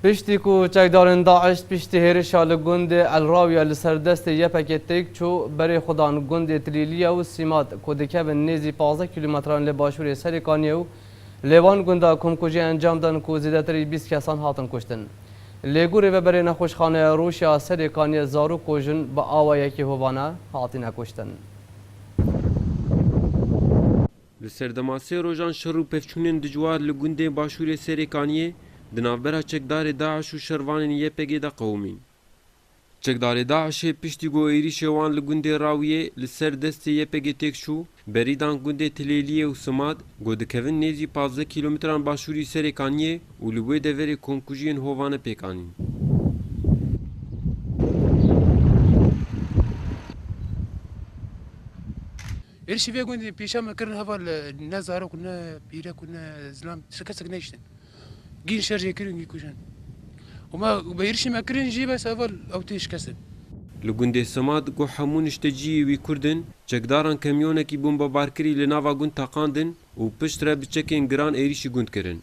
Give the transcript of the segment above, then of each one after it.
Piştî ku çekdarên DAIŞ piştî hêrişa li gundê El Rawiya li ser destê YPGê têk çû, berê xwe dan gundê Tilîliya û Sîmat ku dikevin nêzî pazdeh kîlometran li başûrê Serêkaniyê û lê van gunda komkujî encam dan ku zêdetirî bîst kesan hatin kuştin. Lê ku rêveberê nexweşxaneya rûş ya Serêkaniyê zarok û jin bi awa yekê hovane hatine kuştin. Li serdema sê rojan şer û pevçûnên dijwar li gundên başûrê Serêkaniyê di navbera çekdarê DAIŞ û şervanên YPGê de qewimîn. Çekdarê DAIŞê piştî ku êrîşê wan li gundê Rawiyê li ser destê YPGê têk çû, berî dan gundê Tilêliyê û Simad ku dikevin nêzî pazdeh kîlometran başûrî Serêkaniyê û li wê deverê komkujiyên hovane pêk anîn. Êrişî vê gundê pêşa me kirin heval e, ne zarok û ne pîrek û ne zilam ji kesek nehiştin. Gîn şer jê kirin, gîn kujin. Û me bi êrişî me kirin jî bes heval ew tê şikestin. Li gundê Simad ku hemû nişte ciyê wî Kurd in, çekdaran kamyonekî bombebarkirî li nava gund teqandin û piştre bi çekên giran êrişî gund kirin.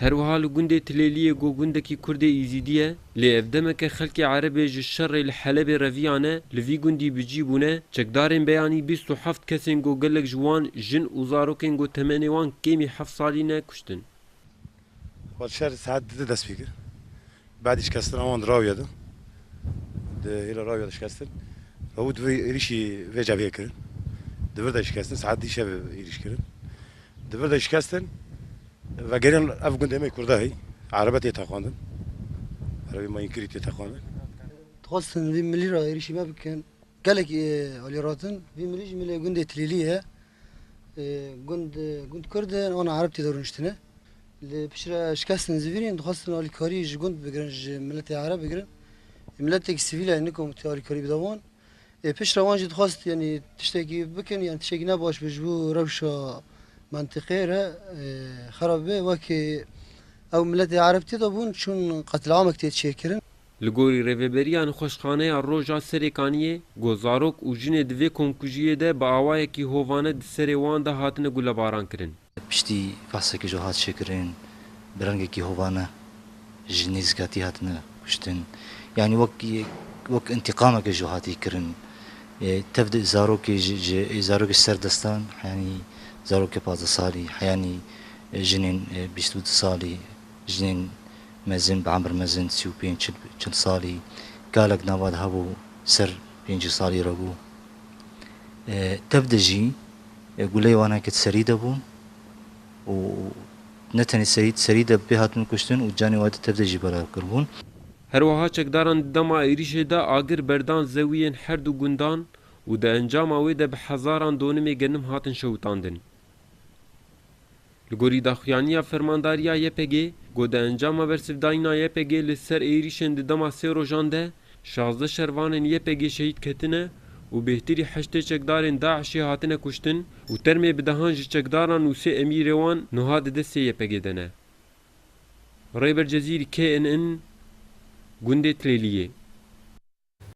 Her wiha li gundê Tilêliyê ku gundekî Kurdê Îzîdî ye, lê ev demeke xelkê Erebê ji şerê li Helebê reviyane, li vî gundî bi cî bûne, çekdarên beyanî bîst û heft kesên ku gelek ji wan jin û zarokên ku temenê wan kêmî heft salî ne kuştin. Xweser saet du de dest pê kir. Badî şikestina wan di rawîya de di hêla rawîya de şikestin. Rewû di vir êrîşî vê cevhê kirin. Di vir de şikestin saet dî şevê êrîş kirin. Di vir de şikestin vegeriyan ev gundê me Kurda hî Erebe tê teqandin. Erebî ma înkirî tê teqandin. Dixwestin vî milî ra êrîşî me bikin. Gelek alî ratin vî milî jî milê gundê Tilîlî ye. Gund gund kurd e ona erb tê de rûniştine. Li piştre şikestin zivînên dixwastin alîkarî ji gund bigirin ji miletê ereb bigirin. Miletek sivîl e nikom tu alîkarî bida wan. Ê piştre wan jî dixwast yanî tiştekî bikin yan tiştekî ne baş be ji bo rewşa mentiqê re xerab be wekî ew miletê ereb tê de bûn çûn qetil'amek tê çêkirin. Li gorî rêveberiya nixweşxaneya Roja Serêkaniyê, got zarok û jinê di vê komkujiyê de bi awayekî hovane di serê wan de hatine gulebarankirin. Piştî behseke ji hat çêkirin bi rengekî hovane ji nêzîkatî hatine kuştin. Yanî wek wek întîqameke ji hatî kirin. Tev di zarokê ji ji zarokê ji ser destan heyanî zarokê pazdeh salî, heyanî jinên bîst û du salî. Jinên mezin bi emr mezin sî û pênc çil salî galek nava de hebû ser pêncî salî re bû. Tev de jî guleyê wan heke di serî de bû û ne tenê serî di serî de pê hatin kuştin û canê we di tev de jî belav kiribûn. Herwiha çekdaran di dema êrîşê de agir berdan zewiyên her du gundan û di encama wê de bi hezaran donimê genim hatin şewitandin. Li gorî daxuyaniya fermandariya YPGê, got di encama bersivdayîna YPGê li ser êrîşên di dema sê rojan de şazdeh şervanên YPGê şehîd ketine û bêhtirî heştê çekdarên DAIŞ'ê hatine kuştin û termê bi dehan ji çekdaran û sê emîrê wan nuha di destê YPGê de ne. Rêber Cezîr, KNN, Gundê Tilêliyê.